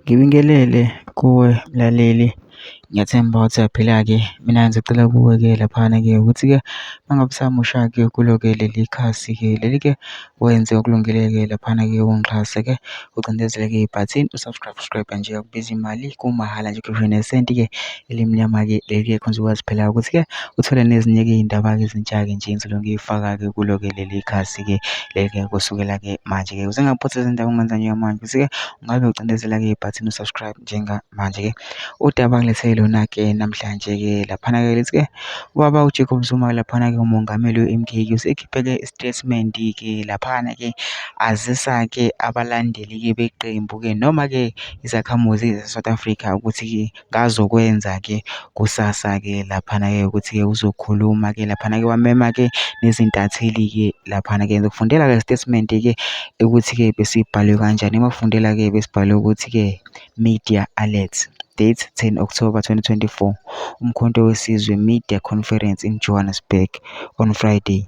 Ngibingelele kuwe mlaleli, ngiyathemba ukuthi uyaphila-ke. Mina ngisacela kuwe-ke laphana-ke ukuthi-ke uma ngabe usamusha-ke kulo-ke leli khasi-ke leli-ke, wenze okulungile-ke laphana-ke ungixhase-ke ucindezele-ke ibhathini u-subscribe nje, akubizi mali kumahhala nje, akukhishwa nesenti-ke. elimnyama-ke leli-ke khona uzokwazi phela ukuthi-ke uthole nezinye-ke iy'ndaba-ke ezintsha-ke nje engizobe ngiyifaka-ke kulo-ke leli khasi-ke leli-ke kusukela-ke manje-ke ukuze ngingaphothi izindaba ungenza nje manje ukuthi-ke ungabe ucindezela-ke ibhathini u-subscribe njengamanje-ke udaba ngilethe lona-ke namhlanje-ke laphana-ke lithi-ke ubaba ujacob zuma laphana-ke umongameli we-m k ke usekhiphe-ke isitatimenti-ke laphana-ke azisa-ke abalandeli-ke beqembu-ke noma-ke izakhamuzi ze-south africa ukuthi-ke ngazokwenza-ke kusasa-ke laphana-ke ukuthi-ke uzokhuluma-ke laphana-ke wamema-ke nezintatheli-ke laphana-ke ngizokufundela-ke isitatimende-ke ukuthi-ke besibhalwe kanjani uma kufundela-ke besibhalwe ukuthi-ke media alert date 10 October 2024 Umkhonto weSizwe Media Conference in Johannesburg on Friday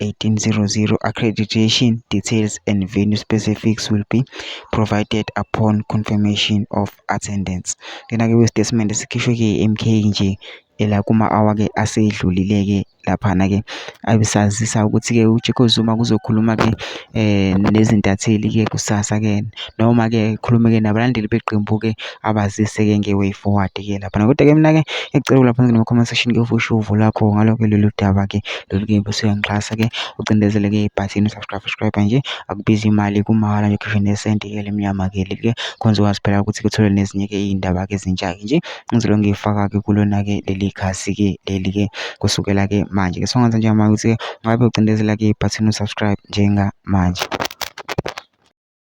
1800 accreditation details and venue specifics will be provided upon confirmation of attendance lena ke kwesitatimende sikhishwe ke MK nje ela kuma hour ke asedlulile ke lapha na ke abisazisa ukuthi ke uJacob Zuma kuzokhuluma ke eh nezintatheli ke kusasa ke noma ke khulume ke nabalandeli beqembu ke abazise-ke nge-way forward-ke laphana kodwa-ke mina-ke ngiyacela ulapha ngene ma-comment section ke ufushe uvo lakho ngaloke lolu daba-ke lolu-ke bese uyangixhasa-ke ucindezele-ke ibhathini subscribe subscribe nje akubizi imali kumahhala nje ukhishwe nesenti-ke lemnyama-ke leli-ke khonze wazi phela ukuthi kuthole nezinye-ke iy'ndaba-ke ezintsha-ke nje ngizolo ngiyifaka-ke kulona-ke leli khasi-ke leli-ke kusukela-ke manje-ke so ngenza njengamanje ukuthi-ke ungabe ucindezela-ke ibhathini usubscribe njengamanje